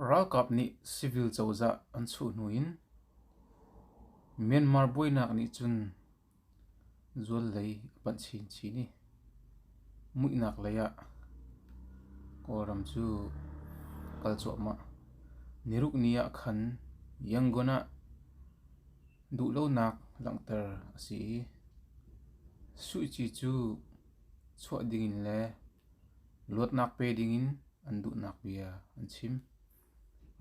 Ralkap nih civil cozah an chuh hnu in Myanmar buainak nih cun zuallei a panh chinchin i muihnak lei ah Kawlram cu a kal cuahmah. Nirukni ah khan Yangon ah duhlonak langhter a si i suici cu chuah ding in le Luatnak pe dingin an duhnak bia an chim.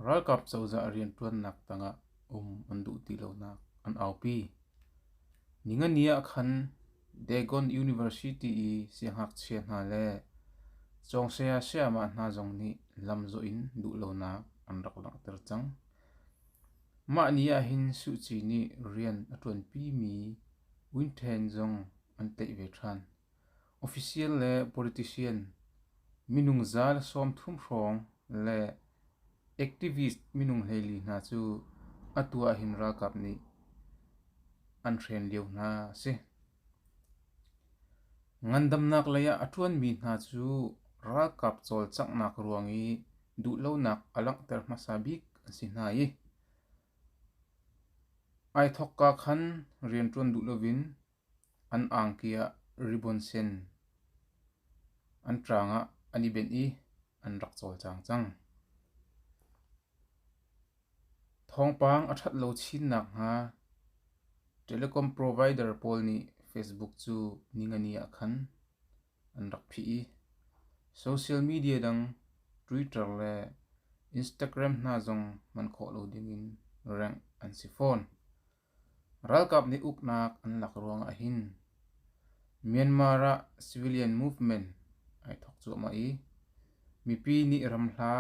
Ralkap cozah rianṭuannak tangah um an duh ti lonak an aupi. Ningani ah khan Dagon University i siangngakchia hna le cawngsaya sayama hna zong nih lamzawh in duh lonak an rak langhter cang. Mah ni ah hin Suh Kyi nih rian a ṭuanpi mi Win Thein zong an tlaih ve ṭhan. Official le politician, minung za le sawmthum hrawng le activist minung hleili hna cu atu ahhin ralkap nih an hren lio hna a si. Ngandamnak lei ah a ṭuanmi hna cu ralkap cawlcanghnak ruang i duhlonak a langhter hmasa bik an si hna i ai thawkka khan rianṭuan duh loin An angki ah ribbon sen an ṭaang ah an i benh i an rak cawlcang cang. Thawngpang a ṭhat lo chin nakhnga telecom provider pawl nih Facebook cu ningani ah khan an rak phih i social media dang Twitter le Instagram hna zong hman khawh lo dingin rengh an si fawn. Ralkap nih uknak an lak ruang ah hin Myanmar ah civilian movement ai thawk cuahmah i mipi nih ram hla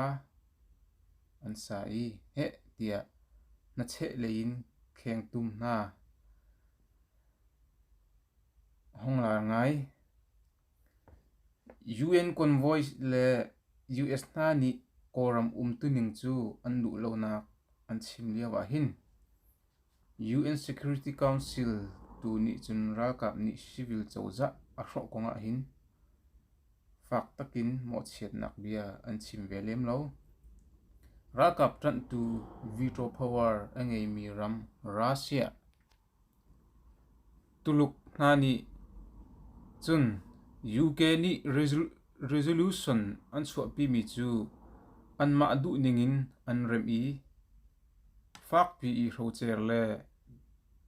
an sa i heh tiah hnacheh lei in khengtum hna hong lar ngai. UN convoy le US hna nih Kawlram umtuning cu an luh lonak an chim lio ahhin UN Security Council tu nih cun ralkap nih civil cozah a hrawh kong ahhin fak takin mawhchiatnak bia an chim ve lem lo. Ralkap ṭanhtu veto power a ngeimi ram Russia Tuluk hna nih cun UK nih resolution an chuahpimi cu anmah duhning in an remh i fakpi i hrocer le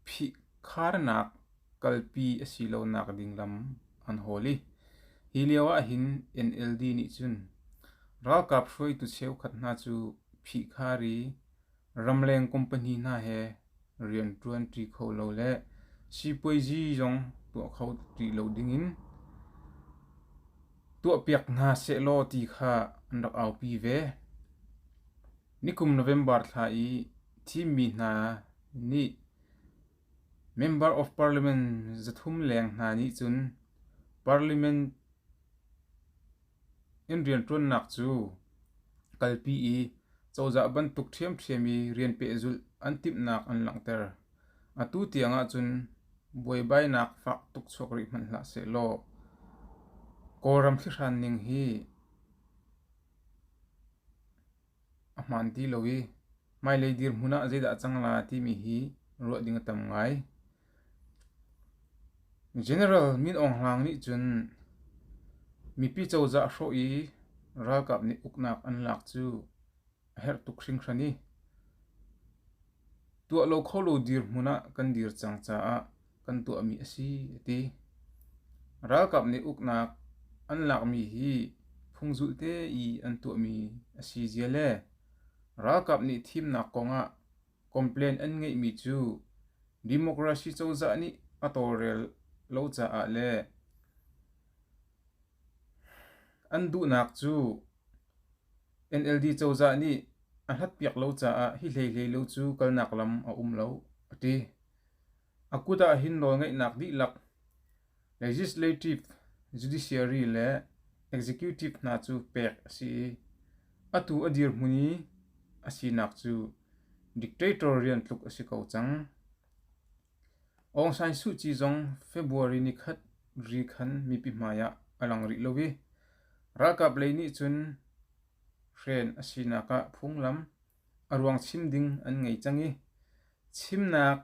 phihkharnak kalpi a si lonak ding lam an hawl i hi lio ahhin NLD nih cun ralkap hruaitu cheukhat hna cu phihkhar i Ramleng kum pahnih hna he rian ṭuan ṭi kho lo le sipuaizi zong tuah kho ṭi lo dingin tuahpiak hna sehlaw ti kha an rak aupi ve. Nikum November thla i thimmi hna nih Member of Parliament zathum leng hna nih cun Parliament Inn rianṭuannak cu kalpi i cozah bantuk ṭhiamṭhiam i rian pehzulh an timhnak an langhter. Atu tiang ahcun buaibainak fak tuk chuak rih hmanh hlah sehlaw Kawlram thlihran ning hi a hmaan ti lo i hmailei dirhmun ah zeidah a cang la timi hi ruah ding a tam ngai. General Min Aung Hlaing nih cun mipi cozah hrawh i ralkap nih uknak an lak cu a herh tuk hringhran i tuah lo kho lo dirhmun ah kan dir cang caah kan tuahmi a si a ti. Ralkap nih uknak an lakmi hi phungzulhte i an tuahmi a si zia le ralkap nih thimnak kongah Complain an ngeihmi cu democracy cozah nih a tawlrel lo caah le an duhnak cu NLD cozah nih a hlatpiak lo caah hi hleihlei lo cu kalnak lam a um lo, a ti. A kut ah hin nawlngeihnak dihlak Legislative, judiciary le executive hna cu pek a si i atu a dirhmun i a sinak cu dictator rian tluk a si ko cang. Aung San Suu Kyi zong February ni khat ri khan mipi hmai ah a lang rih lo i ralkap lei nih cun hren a sinak ah phunglam a ruang chim ding an ngei cang i chimnak,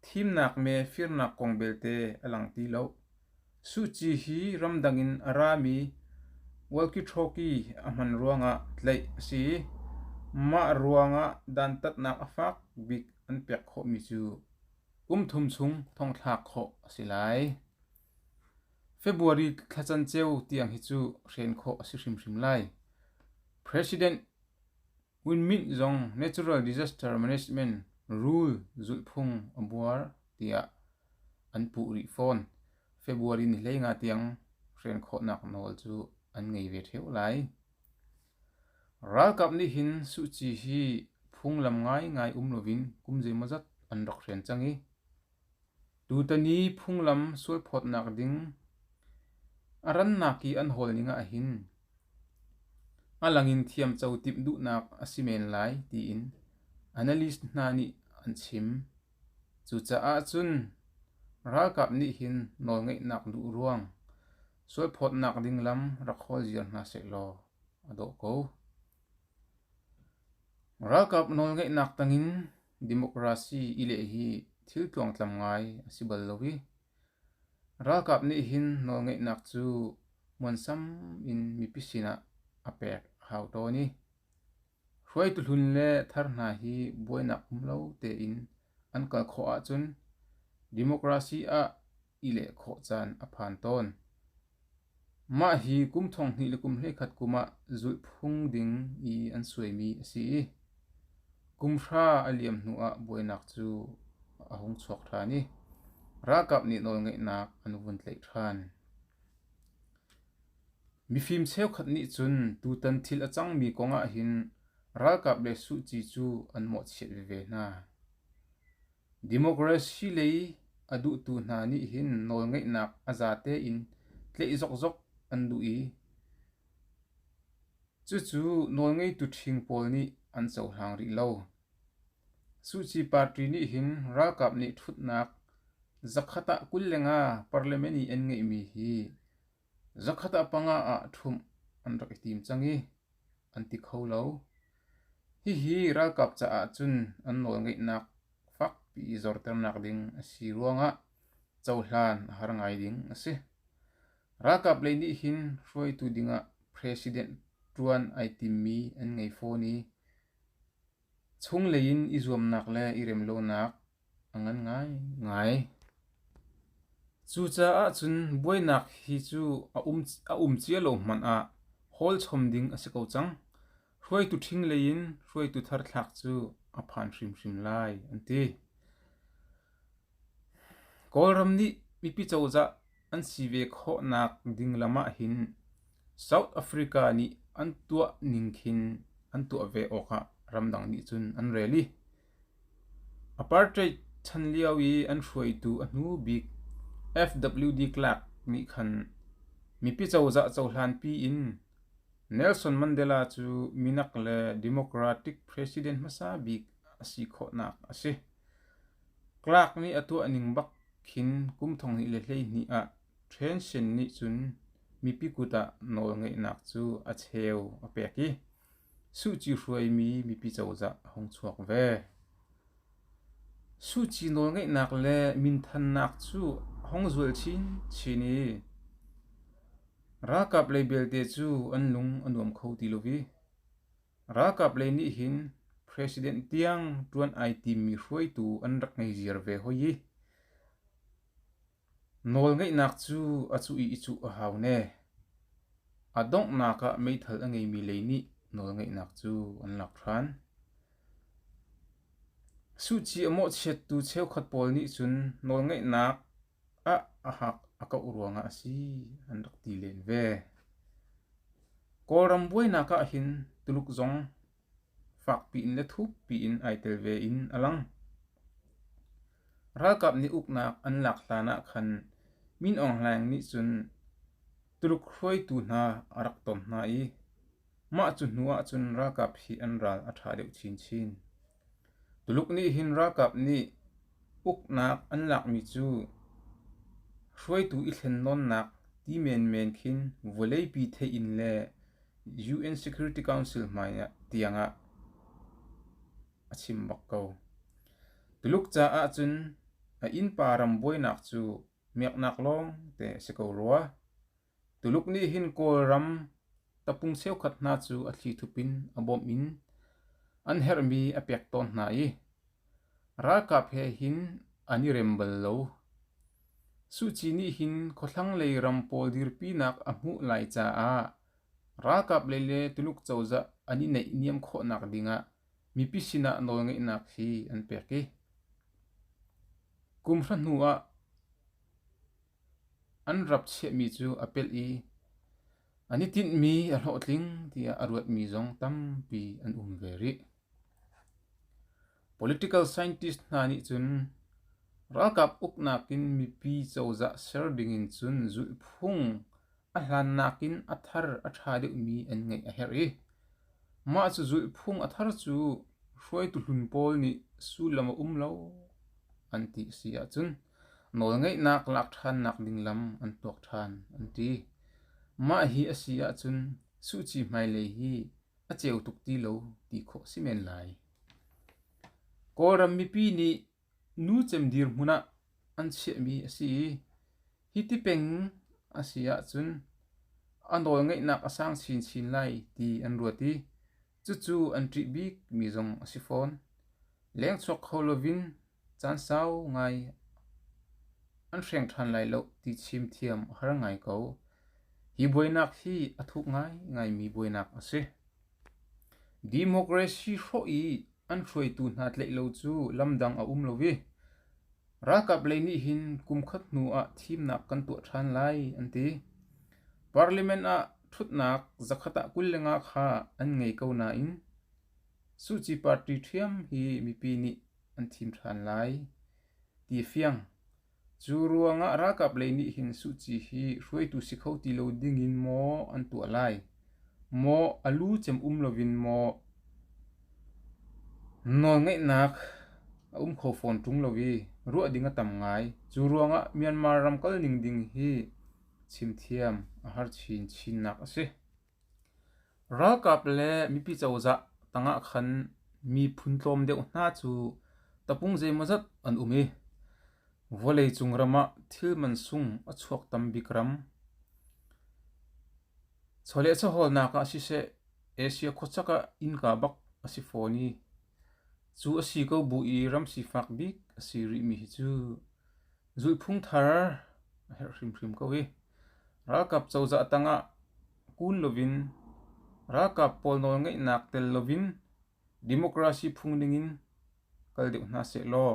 thimnak me firnak kong belte a lang ti lo. Suh Kyi hi ramdang in a rami walkie-talkie a hman ruangah tlaih a si i mah ruangah dantatnak a fak bik an pek khawhmi cu kum thum chung thongthlak khawh a si lai. February thla can ceu tiang hi cu hren khawh a si hrimhrim lai. President Ngun Myint zong Natural Disaster Management rul zulhphung a buar tiah an puh rih fawn. February ni hlei nga tiang hren khawhnak nawl cu an ngei ve ṭheu lai. Ralkap nih hin Suh Kyi hi phunglam ngaingai um loin kum zeimawzat an rak hren cang i Tutan i phunglam sualphawtnak ding a rannak i an hawl ning ahhin a langin thiamco timh duhnak a si men lai tiin analyst hna nih an chim. Cucaah cun ralkap nih hin nawlngeihnak duh ruang sualphawtnak ding lam rak hawl ziar hna sehlaw a dawh ko. Ralkap nawlngeihnak tangin Democracy i leh hi thil tluangtlam ngai a si bal lo i, ralkap nih hin nawlngeihnak cu muansam in mipi sinah a pek a hau tawn i, hruaitu hlun le thar hna hi buainak um lo tein an kal khawh ahcun democracy ah i leh khawh caan a phan tawn. Mah hi kum thong hnih le kum hleikhat kum ah zulhphung ding i an suaimi a si i kum hra a liam hnuah buainak cu a hung chuak ṭhan i ralkap nih nawlngeihnak an vun tlaih ṭhan. Mifim cheukhat nih cun tutan thil a cangmi kong ahhin ralkap le suci cu an mawhchiat veve hna. Democracy lei a duhtu hna nih hin nawlngeihnak a zate in tleih zokzok an duh i cucu nawlngeitu ṭhing pawl nih an cohlang rih lo. Suci party nih hin ralkap nih ṭhutnak zakhat ah kul le nga parliament i an ngeihmi hi Zakhat ah panga ah ṭhumh an rak i tim cang i an ti kho lo. Hihi ralkap caah cun an nawlngeihnak fakpi i zorternak ding a si ruangah cohlan a har ngai ding a si. Ralkap lei nih hin hruaitu dingah president ṭuan ai timmi an ngei fawn i chunglei in i zuamnak le i remlonak Cucaah cun buainak hi cu a um cia lo hmanh ah hawlchom ding a si ko cang. Hruaitu ṭhing lei in hruaitu thar thlak cu a phan hrimhrim lai, an ti. Kawlram nih mipi cozah an si ve khawhnak ding lam ah hin South Africa nih an tuah ning khin an tuah ve awk ah ramdang nih cun an rel i Apartheid chan lio i an hruaitu a hnu bik FWD Clark nih khan mipi cozah cohlanpi in Nelson Mandela cu minak le Democratic president hmasa bik a si khawhnak a si. Clark nih a tuah ning bak khin kum thonghnih le hleihnih ah Thein Sein nih cun mipi kut ah nawlngeihnak cu a cheu a pek i Suci nawlngeihnak le minthannak cu a hong zual chinchin i ralkap lei belte cu an lung a nuam kho ti lo i ralkap lei nih hin president tiang ṭuan ai timmi hruaitu an rak ngei ziar ve hoi i Nawlngeihnak cu a cuh i i cuh a hau ne. A donghnak ah meithal a ngeimi lei nih nawlngeihnak cu an lak ṭhan. Suhci a mawhchiattu cheukhat pawl nih cun nawlngeihnak ah a hak a kauh ruangah a si an rak ti len ve. Kawlram buainak ah hin Tuluk zong fakpi in le thukpi in ai tel ve in a lang. Ralkap nih uknak an lak hlan ah khan Min Aung Hlaing nih cun Tuluk hruaitu hna a rak ton hna i mah cu hnu ah cun ralkap hi an ral a ṭha deuh chinchin. Tuluk nih hin ralkap nih uknak an lakmi cu hruaitu i thlen nawnnak ti menmen khin vawleipi theih in le UN Security Council hmaiah tiangah a chim bak ko. Tuluk caah cun a innpa ram buainak cu miaknak lawng te si ko rua. Tuluk nih hin Kawlram tapung cheukhat hna cu a thlithup in a bawmh in an herhmi a pek tawn hna i Ralkap he hin an i rem bal lo. Suci nih hin khuahlanglei ram pawl dirpinak a hmuh lai caah ralkap lei le Tuluk cozah an i naihniam khawhnak dingah mipi sinah nawlngeihnak hi an pek i kumhra hnuah an rap chiahmi cu a pelh i an i tinhmi a hlawhtling tiah a ruatmi zong tampi an um ve rih. Political scientist hna nih cun ralkap uknak in mipi cozah ser dingin cun zulhphung a hlannak in a thar a ṭha deuhmi an ngeih a herh i mah cu zulhphung a thar cu hruaitu hlun pawl nih sullam a um lo an ti a si ahcun nawlngeihnak lak ṭhannak ding lam an tuak ṭhan an ti. Mah hi a si ahcun Suh Kyi hmailei hi a ceu tuk ti lo ti khawh si men lai. Kawlram mipi nih nu cemdir hmun ah an chiahmi a si i hi ti peng a si ahcun a nawl ngeihnak a sang chinchin lai ti an ruat i cucu an ṭih bikmi zong a si fawn. Lengchuak kho lovin Caan sau ngai an hreng ṭhan lai lo ti chim thiam a har ngai ko. Hi buainak hi a thuk ngaingaimi buainak a si. Democracy hrawh i an hruaitu hna tlaih lo cu lamdang a um lo i ralkap lei nih hin kumkhat hnu ah thimnak kan tuah ṭhan lai an ti. Parliament ah ṭhutnak zakhat ah kul le nga kha an ngei ko nain Suci party ṭhiam hi mipi nih an thim ṭhan lai, ti a fiang. Cu ruangah ralkap lei nih hin Suci hi hruaitu si kho ti lo dingin maw an tuah lai? Maw a lu cem um loin maw nawlngeihnak a um kho fawn ṭung lo i ruah ding a tam ngai. Cu ruangah Myanmar ram kalning ding hi chimthiam a har chin chinnak a si. Ralkap le mipi cozah tangah khan miphun tlawm deuh hna cu tapung zeimawzat an um i vawleicung ram ah thil mansung a chuak tam bik ram. Chawleh chawhawlnak ah siseh Asia khuachak ah innka bak a si fawn i cu a si ko bu i ram sifak bik a si rihmi hi cu Zulhphung thar a herh hrimhrim ko hi. Ralkap cozah tangah kun loin ralkap pawl nawlngeihnak tel loin democracy phung dingin kal deuh hna seh law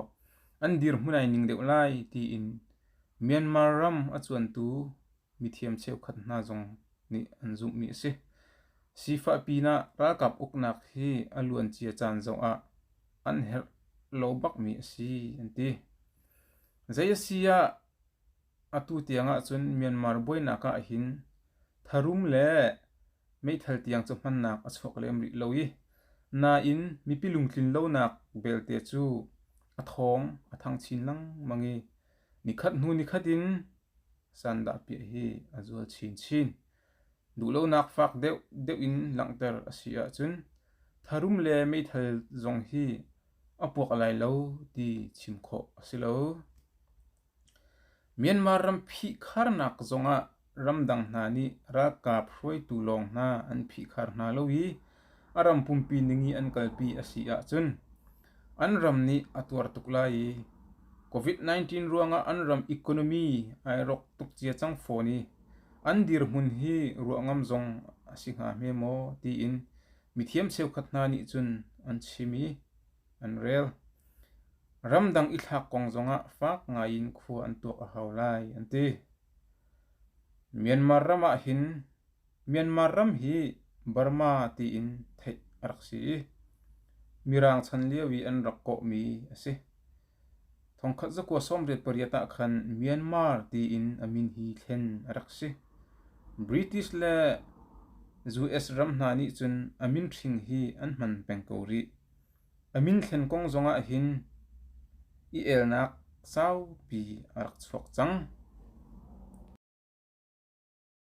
an dirhmun ai ning deuh lai tiin Myanmar ram a cuantu mithiam cheukhat hna zong nih an zumhmi a si. Sifah pinah ralkap uknak hi a luancia caan zoh ah an herh lo bakmi a si an ti. Zei a si ah atu tiang ahcun Myanmar buainak ah hin tharum le meithal tiang cu hmannak a chuak lem rih lo i nain mipi lungtlin lonak belte cu a thawng a thang chin lengmang i nikhat hnu nikhat in Sandahpiah hi a zual chinchin. Duhlonak fak deuh in langhter a si ahcun tharum le meithal zong hi a puak lai lo ti chim khawh a si lo. Myanmar ram phihkharnak zongah ramdang hna nih ralkap hruaitu lawng hna an phihkhar hna lo i a ram pumpi ning i an kalpi a si ahcun an ram nih a tuar tuk lai i COVID-19 ruangah an ram economy ai rawk tuk cia cang fawn i an dirhmun hi ruah ngam zong a si hnga hme maw tiin mithiam cheukhat hna nih cun an chim i an rel. Ramdang i thlak kong zongah fak ngaiin khua an tuak a hau lai an ti. Myanmar ram ah hin Myanmar ram hi Burma tiin theih a rak si i, Mirang chan lio i an rak kawhmi a si. Thongkhat zakua sawmriat pariat ah khan Myanmar tiin a min hi thlen a rak si. British le US ram hna nih cun a min hring hi an hman peng ko rih. A min thlen kong zongah hin i elnak saupi a rak chuak cang.